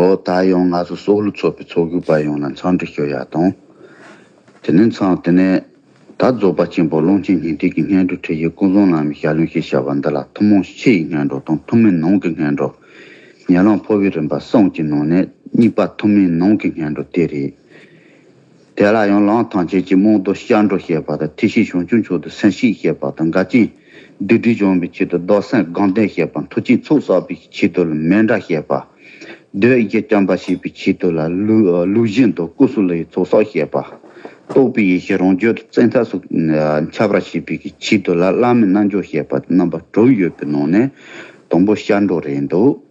ཨོ། ད་ཡང་ང་ཚོ་སོག་ལུ་ཚོགས་པའི་ཚོགས་གུར་པ་ཡོངས་ལ་མཚང་འདྲི་ཞུ་ཡག་དང། དེ་ནས་མཚང་དེ་ནས། ད་རྫོགས་པ་ཆེན་པོ་ཀློང་ཆེན་ཉི་ཟླས་ཀྱི་སྙན་སྒྲོག་ཁྲིད་ཡུལ་སྐུ་གསུང་ལམ་ཞལ་ལུང་ཞེས་བྱ་བ་འདི་ལ་ཐུན་མོང་ཕྱི་ཡི་སྙན་སྒྲོག་དང་ཐུན་མིན་ནང་གི་སྙན་སྒྲོག། ཉེ་ལམ་འཕོ་བའི་རིམ་པ་གསུམ་གྱི་ནང་ནས་གཉིས་པ་ཐུན་མིན་ནང་གི་སྙན་སྒྲོག་དེ་རེད། དེ་ལ་ཡང་ལང་ཐང་ཆེན་གྱི་རྨོང་རྡོ་ཤར་འགྲོ་ཞེས་པ་དང་ཐིག་ཤིང་ཞང་ཆུང་མཆོག་ཏུ་སེང་ཤིང་ཞེས་པ་དང་འགའ་ཅན། སྡིག་སྒྲིབ་སྦྱོང་བའི་ཆེད་དུ་རྡོར་སེང་སྒང་སྟོན་ཞེས་པ་མཐུ་ཆེན་ཚོགས་བསགས་པའི་ཆེད་དུ་ལ་མེ་འདྲ་ཞེས་པ། རྡོའི་ཡི་གེ་བརྐྱང་བ་ཞེས་པའི་ཆེད་དུ་ལ་ལུག་བཞིན་དུ་ཀུ་སུ་ལུའི་ཚོགས་བསགས་ཞེས་པ། རྟོགས་པའི་ཡེ་ཤེས་རང་བརྗོད་དུ་བཙན་ཐབས་སུ་འཆར་བར་བྱེད་པའི་ཆེད་དུ་ལ་བླ་མའི་རྣལ་འབྱོར་ཞེས་པ་རྣམ་པ་དྲུག་ཡོད་པའི་ནང་ནས་དང་པོ་ཤར་འགྲོ་རེད་འདུག།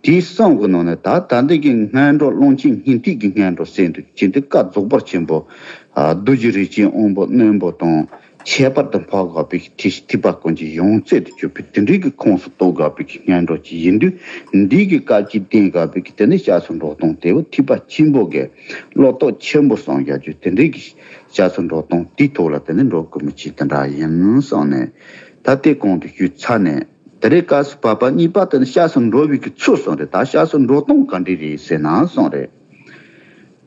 དེའི་གསང་གི་ནང་ནས་ད་ལྟ་འདི་ཀྱི་སྔས་འགྲོ་ཀློང་ཆེན་སྙིང་ཐིག་གི་སྔས་འགྲོ་གསན་དུ་བྱིན་ཏེ་བཀའ་རྫོགས་པར་ཆེན་པོ། རྡོ་རྗེ་རིགས་ཅན་དབོན་པོ་རྣོན་པོ་དང་ཁྱད་པར་དུ་འཕགས་དགའ་བོས་ཀྱི་ཐེག་བཞི་ཐེག་པ་ཀུན་གྱི་ཡོངས་རྩེ་དུ་གྱུར་པའི་དེ་འབྲེལ་གྱི་ཁོངས་སུ་གཏོགས་དགའ་བོས་ཀྱི་སྔས་འགྲོ་གཅིག་ཡིན་དུས་འདི་ཀྱི་བཀའ་དཀྱིལ་རྟེན་དགའ་བོས་ཀྱི་དེ་འབྲེལ་ཕྱག་སོར་འགྲོ་སྟངས་དེ་བོ་ཐིག་པ་ཆེན་པོ་དགེ་བློ་རྟོག་ཆེན་པོ་སངས་རྒྱ་ཆོས་དེ་འབྲེལ་གྱི་ཕྱག་སོར་འགྲོ་སྟངས་དེའི་ཐོག་ལ་དེ་འདི་འགྲོ་དགོས་མི་བྱེད་དེ་འདྲ་ཡིན་གསུངས་ནས་ད་ལྟའི་གོང་དུ་ཞུས་ཚར་ནས། དེ་རེས་སྐབས་སུ་བབས་པ་གཉིས་པ་དེ་ནི་ཤགས་སུ་འགྲོ་བའི་གི་ཚུལ་སོང་རེད་ད་ཤགས་སུ་འགྲོ་སྟངས་ག་འདྲས་རེད་ཟེར་ན་སོང་རེད་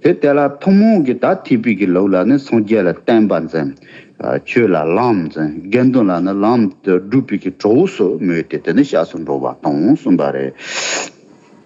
དེ་དེ་ལ་ཐུན་མོང་གི་ད་ཐིག་པའི་གི་ལུགས་ལ་ནི་སངས་རྒྱས་ལ་བསྟན་པ་འཛིན། ཆོས་ལ་ལམ་འཛིན་དགེ་འདུན་ལ་ནི་ལམ་དུ་སྒྲུབ་པའི་གི་གྲོགས་སུ་མོས་ཏེ་དེ་ནི་ཤགས་སུ་འགྲོ་བ་དང་གསུམ་པ་རེད།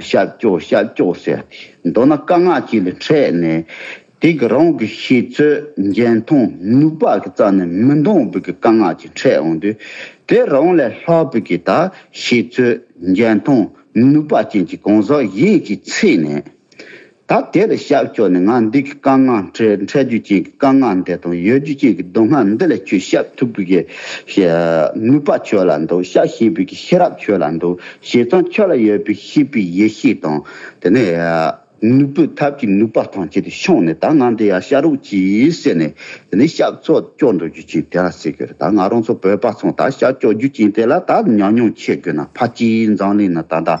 ཤ་ཀྱོག་ཤ་ཀྱོག་ཟེར། མདོར་ན་དཀའ་ངག་ཅིག་ལ་འཕྲད་ནས། དེ་གི་རང་གི་ཤེས་ཚོད་འཇལ་མཐོང་ནུས་པ་གི་རྩ་ནས་མི་མཐོང་བུ་གི་དཀའ་ངག་ཅིག་འཕྲད་འོང་དུས། དེ་རང་ལས་ལྷག་བུ་གི་ད་ཤེས་ཚོད་འཇལ་མཐོང་ནུས་པ་ཅན་གྱི་གང་ཟག་ཡིན་གྱི་ཚེ་ནས། ད་དེར་ཤར་ཕྱོགས་ནས་ང་འདི་གི་བཀའ་མངགས་འཕྲལ་འཕྲལ་རྒྱུ་ཅན་གྱི་བཀའ་མངགས་འདི་དང་ཡོད་རྒྱུ་ཅན་གྱི་མདོ་སྔགས་འདི་ལས་ཁྱོད་ཤཱཀ་ཐུབ་བུ་གི། ནུས་པ་ཁྱོད་ལ་འདུག་ཤཱཀ་ཤི་བུ་གི་ཤེས་རབ་ཁྱོད་ལ་འདུག་བྱས་ཙང་ཁྱོད་ལ་ཡོད་པའི་ཤེས་པའི་ཡེ་ཤེས་དང། དེ་ནས། ནུས་པའི་ཐབས་ཀྱི་ནུས་པ་དང་བཅས་ཏེ་ཕྱུང་ནས་ད་ང་འདི་ཡང་ཤ་རུག་ཅིག་ཟེར་ནས། དེ་ནས་ཤཱཀ་ཚོགས་སྐྱོག་འགྲོ་རྒྱུ་ཅན་དེ་ལ་ཟེར་གྱི་རེད་ད་ང་རང་ཚོ་བོད་པ་ཚོ་ད་ཤཱཀ་སྐྱོག་རྒྱུ་ཅན་དེ་ལ་ད་ཉམས་མྱོང་འཆད་དགོས་ན་ཕ་སྐྱིད་འཛམ་གླིང་ན་ད་ད།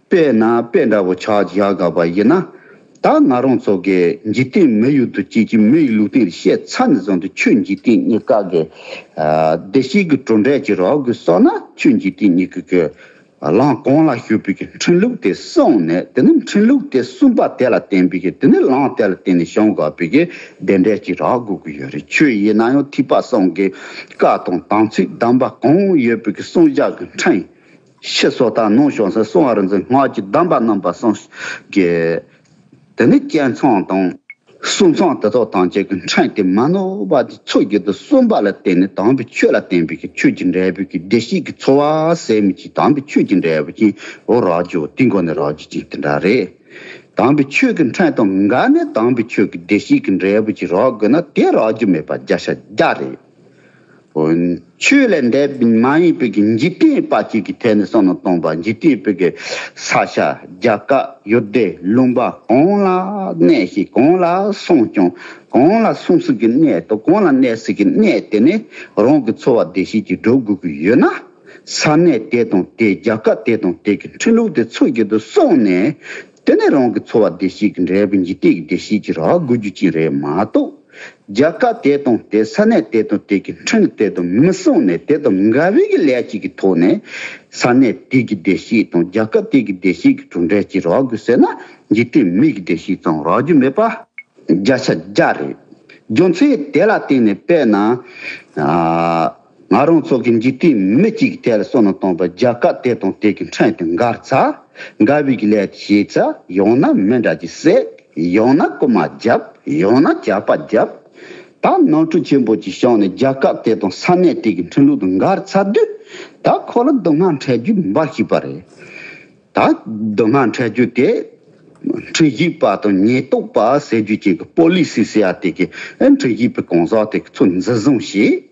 དཔེ་ན་དཔེ་འདྲ་བོ་ཆགས་བཞག་དགའ་བ་ཡིན་ན། ད་ང་རང་ཚོ་གི་འཇིག་རྟེན་མི་ཡུལ་དུ་སྐྱེས་ཀྱི་མི་ཡི་ལུགས་བསྟན་རེ་བཤད་ཚར་ནས་བཟུང་སྟེ་ཆོས་འཇིག་རྟེན་གཉིས་ཀ་གི་བདེ་སྐྱིད་ཀྱི་གྲུབ་འབྲས་ཀྱི་རོགས་དགོས་སོགས་ན་ཆོས་འཇིག་རྟེན་གཉིས་ཀ་གི་ལངས་གང་ལ་ཞུགས་པའི་གི་འཕྲིན་ལུགས་དེ་གསུངས་ནས་དེ་ནི་འཕྲིན་ལུགས་དེ་གསུངས་པ་དེ་ལ་བརྟེན་པའི་གི་དེ་ནི་ལངས་དེ་ལ་བརྟེན་ནས་བྱུང་དགོས་པའི་གི་བདེ་འབྲས་ཀྱི་རགས་དགོས་ཀྱི་ཡོད་རེད་ཆོས་ཡིན་ན་ཡང་ཐིགས་པ་གསུམ་གི་བཀའ་དང་དམ་ཚིག་གདམས་པ་གང་ཡོད་པའི་གི་གསུངས་བཞག་གི་འཕྲིན་ཞེས་སོགས་དག་ནང་བྱང་སེར་གསུམ་བར་འཛིན་སྔགས་ཀྱི་གདམས་པ་རྣམ་པ་གསུམ་གྱིས། དེ་ནས་བསྐྱེད་མཚང་དང། གསུང་མཚང་དེ་དག་ཐམས་ཅད་ཀྱི་འཕྲེང་སྟེ་མ་ནོར་བ་དེ་ཚོགས་བརྒྱད་དུ་གསུམ་པ་ལ་བརྟེན་ནས་དམ་པའི་ཆོས་ལ་བརྟེན་པའི་ཆོས་ཀྱི་འབྲས་བུ་གྱི་བདེ་གཤེགས་ཀྱི་འཚོ་བ་ཟད་མི་ཤེས་དམ་པའི་ཆོས་ཀྱི་འབྲས་བུ་ཅན་འོ་རག་ཇོ་དེའི་སྒོ་ནས་རག་ཇི་བྱིན་དེ་འདྲ་རེད། དམ་པའི་ཆོས་ཀྱི་འཕྲེང་དང་འགལ་ནས་དམ་པའི་ཆོས་ཀྱི་བདེ་གཤེགས་ཀྱི་འབྲས་བུ་ཅིག་རག་དགོས་ན་དེ་རག་རྒྱུ་མེད་པ་བརྒྱ་ཆ་བརྒྱ་རེད། ཆོས་ལས་འདས་པའི་མ་ཡིན་པའི་འཇིག་རྟེན་པ་གཅིག་གི་ཐད་ནས་སོ་ནམ་སྟོང་པ་འཇིག་རྟེན་པའི་གི་ས་ཤ་རྒྱ་བཀའ་ཡུལ་སྡེ་ལུང་པ་གང་ལ་གནས་ཤིང་གང་ལ་སོང་ཀྱང་གང་ལ་སོང་ཟིན་གྱི་གནས་དང་གང་ལ་གནས་ཟིན་གྱི་གནས་དེ་ནས་རང་གི་འཚོ་བ་བདེ་བཤེགས་ཀྱིས་འགྲོ་དགོས་ཀྱི་ཡོད་ན་ས་གནས་དེ་དང་དེའི་རྒྱ་བཀའ་དེ་དང་དེ་གི་འཕྲིན་ལུགས་དེ་འཚོལ་གྱི་དུ་སོང་ནས། དེ་ནི་རང་གི་འཚོ་བ་བདེ་སྐྱིད་ཀྱི་འབྲས་བུ་འཇིག་རྟེན་གྱི་བདེ་སྐྱིད་ཀྱི་རགས་བསྒུལ་རྒྱུ་གཅིག་རེད་མ་གཏོགས། རྒྱལ་ཁབ་དེ་དང་དེ་ས་གནས་དེ་དང་དེ་གི་འཕྲིན་དེ་དང་མི་སྲུང་ནས་དེ་དང་འགལ་བའི་གི་ལས་ཅིག་གི་ཐོག་ནས། ས་གནས་དེ་གི་བདེ་སྐྱིད་དང་རྒྱལ་ཁབ་དེ་གི་བདེ་སྐྱིད་ཀྱི་གྲུབ་འབྲས་གཅིག་རགས་དགོས་ཟེར་ན་འཇིག་རྟེན་མི་གི་བདེ་སྐྱིད་ཙམ་རགས་རྒྱུ་མེད་པ། བརྒྱ་ཆ་བརྒྱ་རེད། རྒྱུ་མཚན་དེ་ལ་བརྟེན་ནས་དཔེར་ན། ང་རང་ཚོ་གི་འཇིག་རྟེན་མི་གཅིག་གི་ཐད་ལ་བསོད་ནམས་བཏང་བ་རྒྱ་གར་དེ་དང་དེ་གི་འཕྲད་དུ་འགར་ཚ་འགར་བིག་ལས་དེ་བྱས་ཚ་ཡང་ན་མི་འདྲ་གི་སྲེད་ཡང་ན་རྐུ་མ་རྒྱབ་ཡང་ན་ཇག་པ་རྒྱབ་ད་ནང་ཁྲུ་ཆེན་པོ་གི་ཤང་ནས་རྒྱ་གར་དེ་དང་ས་གནས་དེ་གི་འཕྲིན་ལུགས་དུ་འགར་ཚ་དུས་ད་ཁོ་ལ་སྡུག་སྔགས་འཕྲད་རྒྱུ་འབར་ཤིག་པ་རེད་ད་སྡུག་སྔགས་འཕྲད་རྒྱུ་དེ་འཕྲིན་གཞིག་པ་དང་ཉེས་རྟོག་པ་ཟེར་རྒྱུ་ཅན་གི་པོ་ལིས་སི་སི་ཡ་དེ་གི་འཕྲིན་གཞིག་པའི་གང་ཟག་དེ་གི་ཚོ་འཛི་བཟུང་བྱས།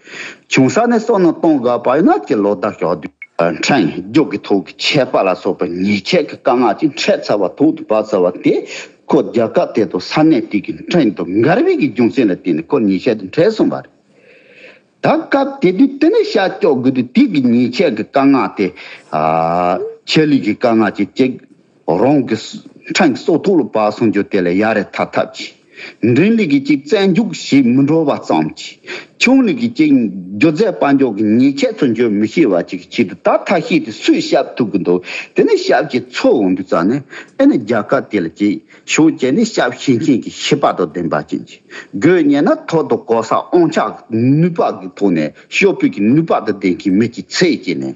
ཆུང་ས་ནས་སོང་ན་སྟོང་དགའ་བ་ཡོད་ན་སྤྱིར་ལོ་ཟླ་ཞག་དུས་འཕྲད་རྒྱུག་གི་ཐུག་གི་ཆད་པ་ལ་སོགས་པའི་ཉེས་ཆད་ཀྱི་དཀའ་ངལ་ཅིག་འཕྲད་ཚར་བ་ཐུག་ཏུ་བབས་ཚར་བ་དེས་ཁོ་རྒྱལ་ཁབ་དེ་དང་ས་གནས་དེ་གའི་འཕྲད་དུ་མགར་བྷི་གི་རྒྱུ་མཚན་ལ་བརྟེན་ནས་ཁོ་ཉེས་ཆད་དུ་འཕྲད་སོང་བ་རེད། ད་སྐབས་དེ་དུས་དེ་ནས་ཤ་སྐྱོགས་དགོས་དུས་དེ་གའི་ཉེས་ཆད་ཀྱི་དཀའ་ངལ་དེ། ཆད་ལུས་ཀྱི་དཀའ་ངལ་ཅིག་སྐྱེས། རང་གི་འཕྲིན་སོགས་ཐུགས་ལ་བབས་གསུང་རྒྱུ་དེ་ལས་ཡར་རེ་ཐར་ཐབས་ཀྱི། འབྲིང་ལུགས་ཀྱི་གཅིག་བཙན་རྒྱུགས་ཞེས་མི་འགྲོ་བ་ཙམ་གྱིས། ཆུང་ལུགས་ཀྱི་གཅིག་སྒྱུ་རྩལ་དཔའ་མགྱོགས་ཀྱི་ཉེས་ཆད་ཚུར་འཇོག་མི་ཤེས་བ་གཅིག་གི་ཆེད་དུ་ད་ཐག་ཤེས་ཏེ་སུས་ཞབས་ཐུག་གི་འདུག་དེ་ནི་ཞབས་ཀྱི་ཚོགས་འོང་དུས་ཙམ་ནས་ཨེ་ནི་རྒྱལ་ཁབ་དེ་ལ་གཅིག་གཞུང་བྱས་ནས་ཞབས་ཞུ་མཁན་གྱི་ཤེས་པ་དང་ལྡན་པ་ཅན་གྱི་དགོས་ངེས་ན་ཐོག་ཏུ་གོ་ས་ཨང་ཆགས་ཀྱི་ནུས་པ་གི་ཐོག་ནས་ཤོག་བུད་ཀྱི་ནུས་པ་དང་ལྡན་མཁན་མི་གཅིག་ཚེ་སྐྱེལ་ནས།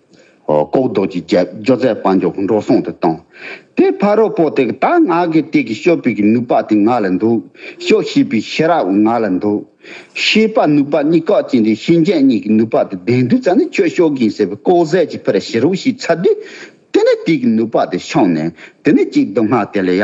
ལྐོག་རྡོག་གི་རྒྱབ་སྦྱོར་ཚད་དཔང་མགྱོགས་འགྲོ་སོང་དུ་བཏང། དེ་ཕ་རོལ་པོ་དེ་ད་ང་གི་སྟེགས་ཀྱི་ཤོ་བུད་ཀྱི་ནུས་པ་དེ་ང་ལ་འདུག་ཤོ་ཤི་བའི་ཤེས་རབ་ང་ལ་འདུག། ཤེས་པ་ནུས་པ་གཉིས་ཁག་ཅན་དེ་ཤེས་མཁན་གཉིས་ཀྱི་ནུས་པ་དེ་ལྡན་དུས་ཙང་ནི་ཁྱོད་ཤོ་གིན་ཟེར་བའི་ལྐོག་ཟས་ཀྱི་ཕུ་ར་བྱེད་རོགས་ཞེས་ཚར་དུས། དེ་ནས་དེ་གི་ནུས་པ་དེ་ཤོང་ནས་དེ་ནི་གཅིག་སྡུག་བསྔལ་དེ་ལ་ཡ།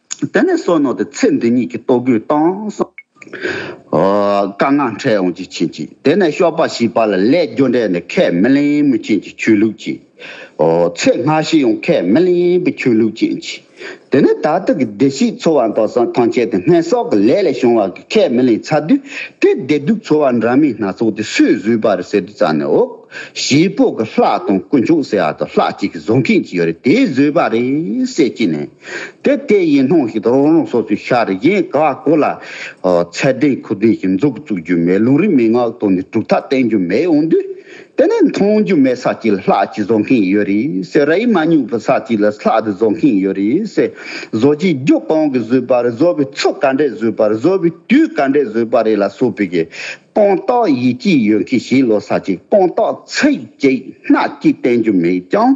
དེ་ནས་བསོད་ནོར་དེ་ཚེ་འདི་ཉིད་ཀྱི་ལྟོ་གོས་བཏང་གསུང། དཀར་ནག་འཕྲད་ཡོང་ཅིག་བྱིན་ཅིག་དེ་ནས་ཤོག་པ་ཞིག་པ་ལ་ལས་རྒྱུ་འབྲས་ནི་ཁས་མི་ལེན་མི་བྱིན་ཅིག་ཆོས་ལུགས་ཀྱི། ཚེ་སྔ་ཕྱི་ཡང་ཁས་མི་ལེན་པའི་ཆོས་ལུགས་བྱིན་ཅིག་དེ་ནས་ད་ལྟ་གི་བདེ་སྐྱིད་འཚོ་བ་མདོ་བཟང་ཐང་ཆེན་དེ་སྔས་སྲོག་གི་ལས་ལས་བྱུང་བ་གི་ཁས་མི་ལེན་ཚར་དུས་དེ་བདེ་སྡུག་འཚོ་བ་འདྲ་མིན་སྣ་ཚོགས་དེ་སུས་བཟོས་པ་རེད་ཟེར་དུས་རྩ་ནས་འོག་གཞིས་སྤོ་གི་ལྷ་དང་དཀོན་མཆོག་ཟེར་བ་དང་ལྷ་གཅིག་གིས་བཟོ་མཁན་གཅིག་ཡོད་རེད་དེས་བཟོས་པ་རེད་ཟེར་གྱི་ནས། དེ་ལྟའི་ཡིད་སྣང་ཞིག་རང་རང་སོ་སོའི་ཤར་གཞན་ག་གོ་ལ། ཚད་ལྡན་ཁུ་ལྡན་ཞིག་འཛུགས་བཙུགས་རྒྱུ་མེད་ལུང་རིགས་མན་ངག་བཏོན་ནས་གྲུབ་མཐའ་བསྟན་རྒྱུ་མེད་འོང་དུས། དེ་ནས་མཐོང་རྒྱུ་མེད་ས་གཅིག་ལ་ལྷག་ཅིག་བཟོ་མཁན་ཡོད་རེད་ཟེར་ར་ཡིག་མ་སྙུག་པའི་ས་གཅིག་ལ་ལྷག་ཏུ་བཟོ་མཁན་ཡོད་རེད་ཟེར། བཟོ་བྱེད་རྒྱུ་གང་གིས་བཟོས་པ་རེད་བཟོ་བའི་ཚུལ་ག་འདྲས་བཟོས་པ་རེད་བཟོ་བའི་དུས་ག་འདྲས་བཟོས་པ་རེད་ལ་སོགས་པའི་གི་དཔང་རྟགས་ཡིད་དཔྱོད་ཡོད་མཁན་ཞིག་ལ་ས་གཅིག་དཔང་རྟགས་ཚིག་གཅིག་སྣ་གཅིག་བསྟན་རྒྱུ་མེད་ཀྱང།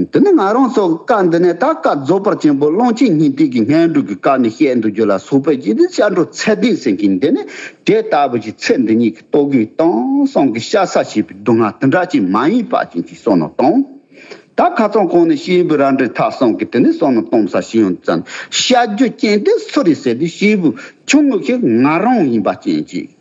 འདི་ནི་ང་རང་སོགས་ཀྱི་བཀའ་འདི་ནས་ད་བཀའ་རྫོགས་པར་ཆེན་པོ་གླང་ཆེན་ཉི་ཟླའི་གི་ངན་འགྲོ་གི་བཀའ་ནི་བཤད་འདུག་རྒྱུ་ལ་སོགས་པའི་རྗེས་འདི་ཤར་འགྲོ་ཚད་ལྡན་སེང་གེ་འདི་ནི་དེ་ལྟ་བུ་ཞིག་ཚེ་འདི་ཉིད་ཀྱི་ལྟོ་གོས་དང་སྲང་གི་ཤ་ཟ་བྱེད་པའི་སྡུག་བསྔལ་འདི་འདྲ་ཅན་མ་ཡིན་པ་ཅན་ཞིག་སོང་ན་དང། ད་ཁ་ཚང་གང་ནས་ཤེལ་བུ་རལ་འདྲའི་ཐག་སྲང་གི་དེ་ནས་སོང་ན་དོམ་ས་ཤི་ཡང་ཙམ་ཤ་རྒྱུ་ཅན་དེ་སུ་རེད་ཟེར་དུས་ཤེལ་བུ་ཆུང་ངུ་ཞིག་ང་རང་ཡིན་པ་ཅན་ཅིག།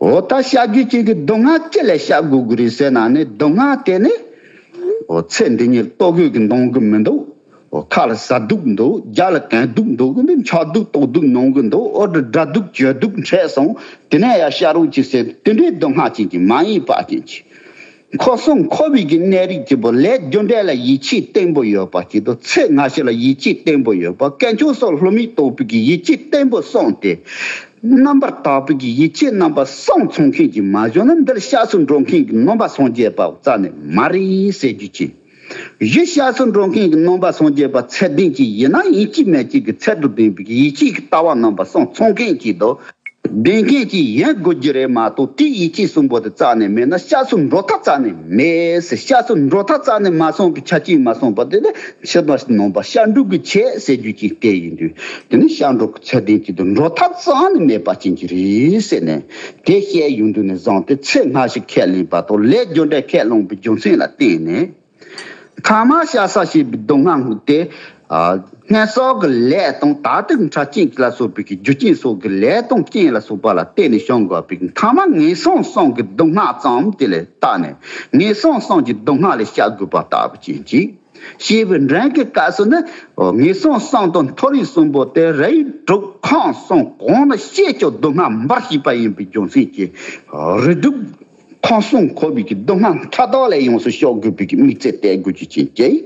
འོ་ད་བྱ་རྒྱུད་ཅིག་གི་མདོ་སྔགས་ཅི་ལས་བྱ་དགོས་ཀྱི་རེད་ཟེར་ན་ནི་མདོ་སྔགས་དེ་ནི་འོ་ཚེ་འདི་ཉིད་ལྟོ་གོས་ཀྱིས་འདོང་གི་མི་འདུག་འོ་ཁ་ལ་ཟ་སྡུག་འདུག་རྒྱ་ལ་གན་སྡུག་འདུག་གི་འདི་འཆག་སྡུག་ལྟོགས་སྡུག་མྱོང་གི་འདུག་འོ་འདྲ་དགྲ་སྡུག་གྱོད་སྡུག་འཕྲད་སོང་དེ་ནས་ཡང་བྱ་རོགས་ཅིག་ཟེར་དེ་འདྲའི་མདོ་སྔགས་ཅན་གྱི་མ་ཡིན་པ་ཅན་གྱི། མཁོ་སྲུང་མཁོ་དབུལ་གྱི་ནད་རིགས་ཀྱི་པོ་ལས་རྒྱུ་འབྲས་ལ་ཡིད་ཆེས་བརྟན་པོ་ཡོད་པ་བཅས་དུག་ཚད་སྔ་ཕྱི་ལ་ཡིད་ཆེས་བརྟན་པོ་ཡོད་པ་སྐད་མཆོང་སོགས་ལྷོད་མེད་དོགས་ཕུད་ཀྱི་ཡིད་ཆེས་བརྟན་པོ་སོང་སྟེ། རྣམ་པར་དག་ཕུད་ཀྱི་ཡིད་ཆེས་རྣམ་པ་སོང་ཚོང་མཁན་གྱི་མ་གཞོན་ནམ་འདིར་ཤགས་སུ་འགྲོ་མཁན་གྱི་ནོམ་པ་སོང་རྒྱས་པ་བཙལ་ནས་མ་རེད་ཟེར་རྒྱུ་བྱས། གཞི་ཤ་ཟུར་འགྲོ་མཁན་གྱི་ནོམ་པ་སངས་རྒྱས་པ་ཚད་ལྡན་གྱི་ཡིན་ན་ཡིན་གཅིག་མེད་གཅིག་གི་ཚད་དུ་ལྡན་པའི་ཡིད་ཆེས་ཀྱི་ལྟ་བ་ནོམ་པ་སངས་ཚོང་མཁན་གྱིས་མདོ་བདེན་མཁན་གྱིས་ཡིན་དགོས་རྒྱུ་རེད་མ་གཏོགས་དེའི་ཡིད་ཆེས་གསུམ་པོ་དེ་རྩ་ནས་མེད་ན་ཤ་ཟུར་འགྲོ་ཐབས་རྩ་ནས་མེད། ཤ་ཟུར་འགྲོ་ཐབས་རྩ་ནས་མ་སོང་གི་ཆ་རྐྱེན་མ་སོང་པ་དེ་ནི་ཕྱི་མ་ནོམ་པ་ཤ་འབྲུག་གི་ཆེད་ཟེར་རྒྱུ་ཅན་དེ་ཡིན་དུས་དེ་ནི་ཤ་འབྲུག་གི་ཚད་ལྡན་གྱི་དུ་འགྲོ་ཐབས་རྩ་ནས་མེད་པ་ཅན་གྱི་རེད་ཟེར་ནས། དེ་བཤད་ཡོང་དུས་ནས་བཟུང་སྟེ་ཚེ་སྔ་ཕྱི་ཁས་ལེན་བར་དོར་ལས་རྒྱུ་འབྲས་ཁས་བླངས་པའི་རྒྱུ་མཚན་ལ་བརྟེན་ནས། ཐ་མ་ཤ་ས་ཞེས་པའི་སྡུག་བསྔལ་སྔུག་སྟེ། སྔས་གསོག་གི་ལས་དང་ད་ལྟའི་ཁྲ་རྐྱེན་གྱིས་ལ་སོགས་པའི་གི་རྒྱུ་རྐྱེན་སོགས་ཀྱི་ལས་དང་རྐྱེན་ལ་སོགས་པ་ལ་བརྟེན་ནས་བྱུང་དགོས་པའི་ཐ་མ་ངན་སོང་སངས་ཀྱི་སྡུག་བསྔལ་ཙམ་དེ་ལས་བརྟགས་ནས་ངན་སོང་སངས་ཀྱི་སྡུག་བསྔལ་ལས་བཤགས་དགོས་པ་ལྟ་བུ་ཅན་གྱིས། ཞེས་པའི་འགྲན་གྱི་བཀའ་སྲོལ་ནི་ངེས་གསང་གསང་དོན་མཐོ་རིས་གསུམ་པོ་སྟེ་རིགས་དྲུག་ཁང་གསུམ་གོང་ལ་བཤད་ཆོག་སྡུག་བསྔལ་འབར་བྱེད་པ་ཡིན་པའི་རྒྱུ་མཚན་གྱིས་རིགས་དྲུག་ཁང་གསུམ་འཁོར་བའི་སྡུག་བསྔལ་མཐའ་དག་ལས་ཡོངས་སུ་ཤོག་དགོས་པའི་དམིགས་ཚད་གཏད་དགོས་རྒྱུ་ཅན་གྱི།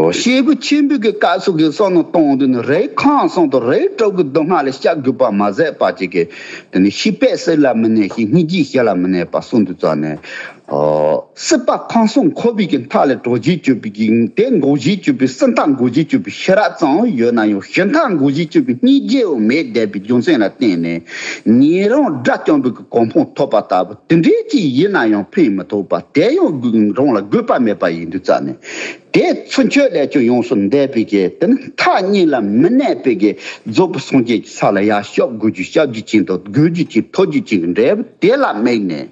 ཞེས་པའི་ཆེན་པོའི་བཀའ་སྲོལ་གྱི་གསང་ནོར་སྟོང་དུ་ནི་རིགས་ཁང་གསུམ་དང་རིགས་དྲུག་གི་སྡུག་བསྔལ་ལས་བཤགས་དགོས་པར་མ་ཟད་པ་གཅིག་གིས་ནི་ཤི་བས་སྲིད་ལ་མི་གནས་ཤིང་སྙིང་རྗེས་ཞི་ལ་མི་གནས་པར་གསུང་དུ་བཅར་ནས། སྲིད་པ་གང་གསུང་འཁོར་བུས་ཀྱི་མཐའ་ལས་གྲོགས་བཞིའི་སྤྱོད་པའི་འགྱིང་དེ་འགོག་བཞིའི་སྤྱོད་པའི་སྲིད་མཐའ་འགོག་བཞིའི་སྤྱོད་པའི་ཤེས་རབ་ཙམ་ཡོད་ན་ཡང་གཞི་མཐའ་འགོག་བཞིའི་སྤྱོད་པའི་གཉིས་རྗེས་དབང་མེད་བསྡད་པའི་རྒྱུ་མཚན་ལ་བརྟེན་ནས་ཉན་རང་དགྲ་བཅོམ་པའི་གོ་འཕང་ཐོབ་པ་ལྟ་བུ་དེ་འདྲའི་ཅིག་ཡིན་ན་ཡང་ཕན་མི་ཐོགས་པར་དེ་ཡང་རང་ལ་དགོས་པ་མེད་པ་ཡིན་དུས་རྩ་ནས་དེ་ཚུན་ཆོད་ལས་ཀྱང་ཡོངས་སུ་འདས་པས་དེ་ནི་མཐའ་གཉིས་ལ་མི་གནས་པས་རྫོགས་པའི་སངས་རྒྱས་ཀྱི་ས་ལ་ཡར་ཤོག་སྒོ་རྒྱུད་ཞབས་རྒྱུད་ཅན་དང་སྒོས་རྒྱུད་ཅན་ཐོ་རྒྱུད་ཅན་གྱི་འབྲས་བུ་དེ་ལ་དམིགས་ནས།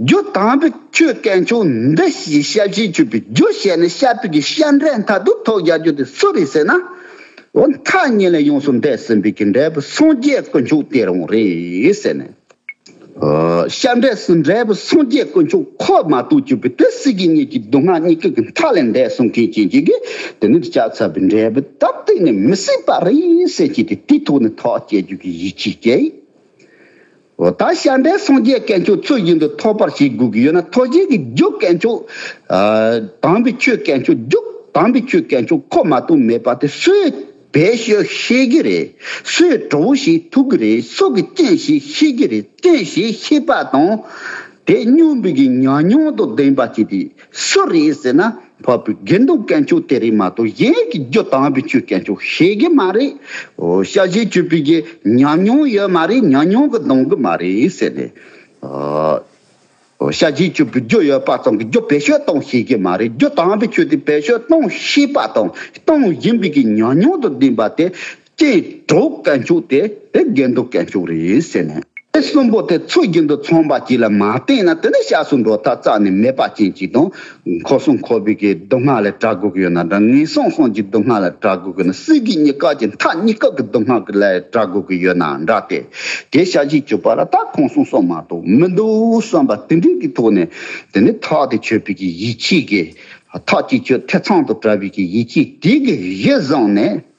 རྒྱུ་དང་པོ་ཁྱོད་སྐད་མཆོག་འདི་ཞེས་ཤ་བཞིས་ཆོད་པའི་རྒྱུ་བཤད་ནས་ཤ་ཕུད་ཀྱི་ཤ་འབྲས་མཐའ་དུག་ཐོག་རྒྱག་རྒྱུ་དེ་སུ་རེད་ཟེར་ན། འོ་མཐའ་གཉིས་ལས་ཡོངས་སུ་འདས་ཟིན་པའི་གི་འབྲས་བུ་སངས་རྒྱས་དཀོན་མཆོག་དེ་རང་རེད་ཟེར་ནས། ཤ་འབྲས་སུ་འབྲས་བུ་སངས་རྒྱས་དཀོན་མཆོག་ཁོ་མ་གཏོགས་གྱུར་པའི་དེ་སྲིད་ཀྱི་གཉིས་ཀྱི་སྡུག་བསྔལ་གཉིས་ཀའི་གི་མཐའ་ལས་འདས་སོང་མཁན་གྱི་གྱི་གི་དེ་ནི་ལྕགས་ཚ་བའི་འབྲས་བུ་ལྟར་གཏན་ནས་མི་སྲིད་པ་རེད་ཟེར་གྱི་དེ་དུས་ཐོག་ནས་ཐག་བཅད་རྒྱུ་གི་ཡིད་ཆེས་སྐྱེས། འོ་ད་ཤ་འདྲེ་སངས་རྒྱས་སྐལ་མཆོག་ཚུལ་བཞིན་དུ་ཐོབ་པར་བྱེད་དགོས་ཀྱི་ཡོད་ན་ཐོ་བཞིན་གྱི་རྒྱུ་སྐལ་མཆོག། དམ་པའི་ཆོས་སྐལ་མཆོག་རྒྱུ་དམ་པའི་ཆོས་སྐལ་མཆོག་ཁོ་མ་གཏོགས་མེད་པ་དེ་སུས་བེད་སྤྱོད་ཤེས་ཀྱི་རེད་སུས་གྲོ་བོ་ཞིག་ཐུག་གི་རེད་སུ་གི་སྤྱན་ཞིག་ཤེས་ཀྱི་རེད་སྤྱན་ཞིག་ཤེས་པ་དང། དེ་སྙུན་འབུད་ཀྱི་ཉམས་མྱོང་དང་ལྡན་པ་བྱས་ཏེ་སུ་རེད་ཟེར་ན། ཕ་བུའི་དགེ་འདུན་སྐད་འཕྱུག་དེ་རིགས་མ་གཏོགས་གཞན་གྱི་རྒྱུ་དང་བུ་ཆུའི་སྐད་འཕྱུག་ཤེས་ཀྱི་མ་རེད། ཤ་བཞི་བཅུ་པོའི་རྗེས་ཉམས་མྱོང་ཡོད་མ་རེད་ཉམས་མྱོང་གི་འདང་གི་མ་རེད་ཟེར་ནས། ཤ་བཞི་བཅུ་པོའི་རྒྱུ་ཡོད་པ་ཙམ་གྱིས་རྒྱུ་བེད་སྤྱོད་གཏོང་ཤེས་ཀྱི་མ་རེད་རྒྱུ་དང་བུ་ཆུ་དེ་བེད་སྤྱོད་གཏོང་ཤེས་པ་དང་གཏོང་བཞིན་པའི་ཉམས་མྱོང་དུ་ལྡན་པ་དེ་ཀྱི་གྲོགས་བཀའ་འཁྱུག་དེ་དེ་རྒན་དུ་བཀའ་འཁྱུག་རེད་ཟེར་ནས། དེ་གསུམ་པོ་དེ་ཚོ་རྒྱུན་དུ་ཚོང་པ་གཅིག་ལ་མ་བསྟེན་ན་དེ་ནི་ཤ་ཟུར་འགྲོ་ཐག་རྩ་ནས་མེད་པ་ཅན་ཅིག་དང། ཁོ་སོང་ཁོ་བུད་ཀྱི་སྡུག་བསྔལ་ལས་གྲགས་དགོས་ཀྱི་ཡོད་ན་འདྲ་ངས་སོང་སོང་གྱི་སྡུག་བསྔལ་ལས་གྲགས་དགོས་ཀྱི་ཡོད་ན་སྲིད་དགེ་གཉིས་སྐབས་ཀྱི་མཐའ་གཉིས་སྐབས་ཀྱི་སྡུག་བསྔལ་གྱི་ལས་གྲགས་དགོས་ཀྱི་ཡོད་ན་འདྲ་སྟེ། དེ་ཤ་བཞི་བཅུ་པ་ལ་ད་གང་སོང་སོང་མ་གཏོགས་མི་འདུག་བསམ་པ་དེ་འདྲའི་གི་ཐོག་ནས་དེ་ནི་ཐག་དེ་ཆོད་པའི་གི་ཡིད་ཆེས་ཀྱི་ཐག་ཅིག་ཆོད་ཐེ་ཚང་དུ་བྲལ་བའི་གི་ཡིད་ཆེས་དེའི་གི་གཞི་བཟང་ནས།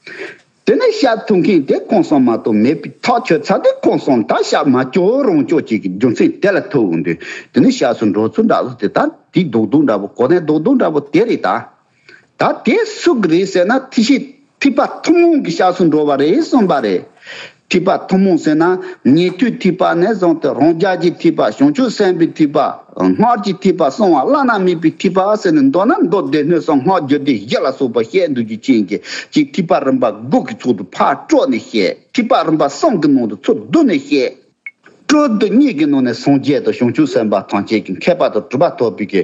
དེ་ནས་ཤ་འཐུང་མཁན་དེ་གང་སོང་མ་གཏོགས་མེད་པའི་ཐག་ཆོད་ཚར་དུས་གང་སོང་ད་ཤ་མ་སྐྱོ་རང་སྐྱོ་བྱེད་ཀྱི་རྒྱུ་མཚན་དེ་ལ་ཐུག་འདུག་དེ་ནས་ཤ་ཟོས་འགྲོ་ཚུལ་འདྲ་བོ་དེ་ད་དེའི་རྡོག་རྡོག་འདྲ་བོ་གོ་གནས་རྡོག་རྡོག་འདྲ་བོ་དེ་རེད་ད། ད་དེ་སུ་གི་རེད་ཟེར་ན་ཐི་ཤི་ཐི་པ་ཐུན་མོང་གི་ཤ་ཟོས་འགྲོ་བ་རེད་གསུངས་པ་རེད། ཐིགས་པ་ཐུན་མོང་ཟེར་ན་ཉེ་དུའི་ཐིགས་པ་ནས་བཟུང་སྟེ་རང་རྒྱལ་གྱི་ཐིགས་པ་བྱང་ཆུབ་སེམས་དཔའི་ཐིགས་པ་སྔར་གྱི་ཐིགས་པ་གསང་བ་བླ་ན་མེད་པའི་ཐིགས་པ་ཟེར་ནས་མདོར་ན་མདོ་སྡེ་སྣོད་གསང་སྔགས་རྒྱུད་སྡེ་བཞི་ལ་སོགས་པར་བཤད་འདུག་རྒྱུ་ཅན་གྱི་གཅིག་ཐིགས་པ་རིམ་པ་དགུ་གི་ཚུལ་དུ་ཕར་དཀྲོལ་ནས་བཤད། ཐིགས་པ་རིམ་པ་གསུམ་གྱི་ནང་དུ་ཚུལ་བསྡུ་ནས་བཤད། སྤྲོ་བསྡུ་གཉིས་ཀྱི་ནང་ནས་སངས་རྒྱས་དང་བྱང་ཆུབ་སེམས་དཔའ་ཐམས་ཅད་ཀྱི་མཁས་པ་དང་གྲུབ་པ་ཐོབ་པའི་གི་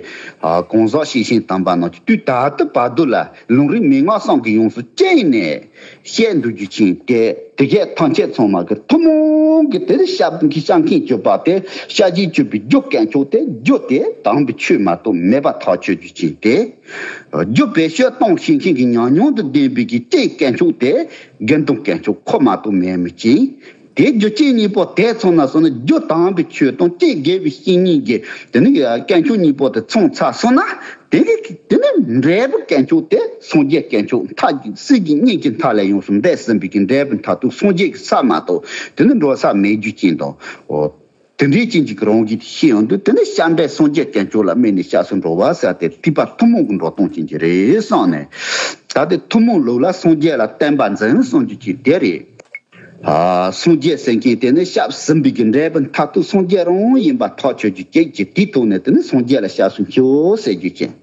གང་ཟག་ཤེས་ཤིང་དམ་པ་ནང་གི་དུས་ད་ལྟ་བར་དུ་ལ་ལུང་རིགས་མན་ངག་སངས་ཀྱིས་ཡོངས་སུ་བཅད་ནས་བཤད་འདུག་རྒྱུ་ཆེན་ཏེ། དེ་སྐད་ཐམས་ཅད་ཚང་མ་གི་ཐུན་མོང་གི་དེར་ཤཱཀྱའི་སྤྱོད་པ་སྟེ་ཤཱཀྱའི་སྤྱོད་པའི་རྒྱུ་སྐད་མཆོག་སྟེ་རྒྱུ་དེ་དམ་པའི་ཆོས་མ་གཏོགས་མེད་པ་ཐག་ཆོད་རྒྱུ་ཆེན་ཏེ། རྒྱུ་བེད་སྤྱོད་སྟངས་ཤིང་ཤིང་གི་ཉམས་མྱོང་དུ་ལྡན་པའི་གི་སྤྱད་སྐད་མཆོག་སྟེ་དགེ་འདུན་སྐད་མཆོག་ཁོ་མ་གཏོགས་མེད་མོད་ཀྱི། དེའི་རྒྱུ་རྐྱེན་གཉིས་པོ་དེ་མཚུངས་ན་སོང་ན་རྒྱུ་དང་པོའི་ཆོས་དང་སྐྱེ་རྒས་པའི་ཤིང་གཉིས་ཀྱི་དེ་ནི་སྐྱེ་འཕྱོང་གཉིས་པོ་དེ་མཚུངས་ཚ་སོང་ན་དེ་ནི་དེ་ནི་འབྲས་བུ་སྐྱེ་འཕྱོང་དེ་སངས་རྒྱས་སྐྱེ་འཕྱོང་མཐའ་གཅིག་སྲིད་ཀྱི་གཉེན་གྱི་མཐའ་ལས་ཡོངས་སུ་འདས་ཟིན་པའི་ཀྱི་འབྲས་བུ་མཐའ་དུ་སངས་རྒྱས་ཀྱི་ས་མ་གཏོགས་དེ་ནི་འགྲོ་ས་མེད་རྒྱུ་རྐྱེན་དང། དེ་འདྲའི་རྐྱེན་གྱིས་རང་བཞིན་དེ་ཤེས་ཡོང་དུས་དེ་ནི་བྱམས་པའི་སངས་རྒྱས་དཀོན་མཆོག་ལ་སྨད་ནས་བྱ་སོ་འགྲོ་བ་ཟེར་ཏེ་སྤྲུལ་པ་ཐུན་མོང་གི་འགྲོ་སྟངས་ཅན་གྱི་རེད་བསམ་ནས། ད་ལྟའི་ཐུན་མོང་ལུགས་ལ་སངས་རྒྱས་ལ་བསྟན་པ་འཛིན་གསུངས་རྒྱུ་གཅིག་དེ་རེད། སངས་རྒྱས་ཟེར་མཁན་དེ་ནི་སྐྱབས་སེམས་དཔའི་རྒྱུ་འབྲས་བུ་མཐར་ཐུག་སངས་རྒྱས་རང་ཡིན་པ་ཐག་ཆོད་རྒྱུ་གཅིག་གིས་དེའི་ཐོག་ནས་དེ་ནི་སངས་རྒྱས་ལ་སྐྱབས་སུ་མཆིའོ་ཟེར་རྒྱུ་ཅན།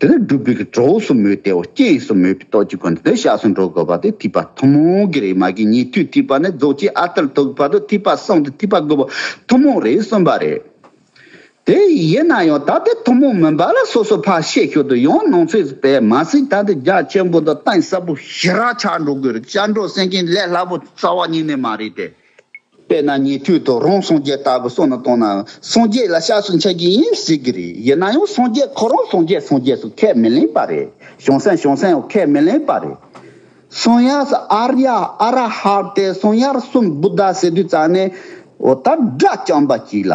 དེ་ལ་སྒྲུབ་པའི་གྲོགས་སུ་མོས་ཏེའོ་རྐྱེན་ཡིག་སོགས་མོས་པའི་རྟོགས་ཀྱི་སྒོ་ནས་དེ་བཞག་སུ་འགྲོ་དགོས་པ་སྟེ་ཐིགས་པ་ཐུན་མོང་གི་རེས་མ་གིས་ཉེ་དུས་ཐིགས་པ་ནས་རྫོགས་ཆེན་ཨ་ཏིར་ཐུག་བར་དུ་ཐིགས་པ་གསུམ་སྟེ་ཐིགས་པ་དགུ་པོ་ཐུན་མོང་རེད་གསུངས་པ་རེད། དེ་ཡིན་ན་ཡང་ད་ལྟའི་ཐུན་མོང་མིན་པ་ལ་སོ་སོ་ཕར་བཤད་ཞོར་དུ་ཡང་ནང་ཚུད་པས་མ་ཟིན་ད་ལྟའི་རྒྱ་ཆེན་པོ་དང་གཏིང་ཟབ་པོ་ཞི་རགས་ཆགས་འགྲོ་དགོས་རེད་བྱ་འགྲོ་སེང་གེའི་ལས་སླ་པོ་རྩ་བ་ཉིད་ནས་མ་རེད་དེ། དཔེར་ན་ཉེ་དུས་དུ་རོང་སངས་རྒྱས་ལྟ་བུ་སོགས་ནང་བཏང་ནའང་སངས་རྒྱས་ལ་ཤ་ཟུ་འཆད་ཀྱི་ཡིན་ཟེར་གྱི་རེད་ཡིན་ན་ཡང་སངས་རྒྱས་ཁོ་རང་སངས་རྒྱས་སངས་རྒྱས་སུ་ཁས་མི་ལེན་པ་རེད་བྱང་སེམས་བྱང་སེམས་འོག་ཁས་མི་ལེན་པ་རེད། སངས་དབྱངས་སུ་ཨ་རྱ་ཨ་ར་ཧ་སྟེ་སངས་དབྱངས་གསུམ་བུདྡྷ་ཟེར་དུས་རྩ་ནས་འོ་ད་སྒྲ་རྐྱང་པ་གཅིག་ལ།